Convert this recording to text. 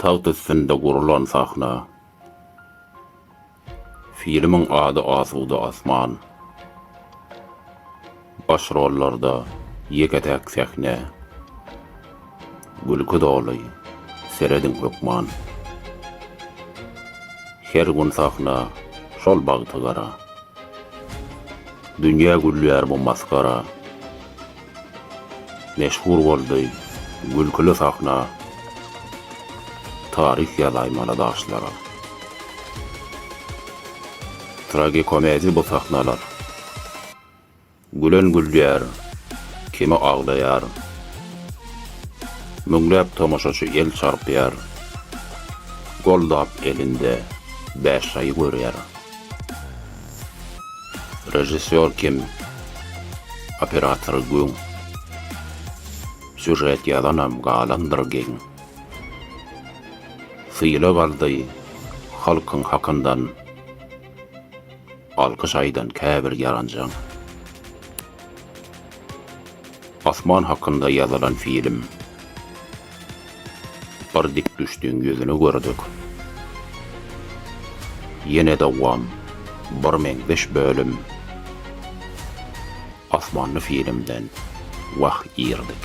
Tagt üstünde gurlan sahna. Filmiň ady Asuda asman. Baş rollarda ýeke-täk sähne. Gülki doly, serediň hökman. Her gün sahna, şol bagty gara. Dünýä gülýär bu masgara. Meşhur boldy, gülkili sahna. Taryh ýazaýmaly daşlara. Tragikomedi bu sahnalar. Gülen gülýär, kimi aglaýar. Müňläp tomaşaçy el çarpýar. Goldap elinde bäş şaýy görýär. Režissýor kim? Operator güň. Sýužet ýazanam galandyr geň. Sylag aldy halkyň hakyndan. Alkyş aýdan käbir ýaranjaň. Asman hakynda ýazylan film. Bir dik düşdüň ýüzüni gördük. Ýene dowam. Bir meňzeş bölüm. Asmanly filmden wah irdik.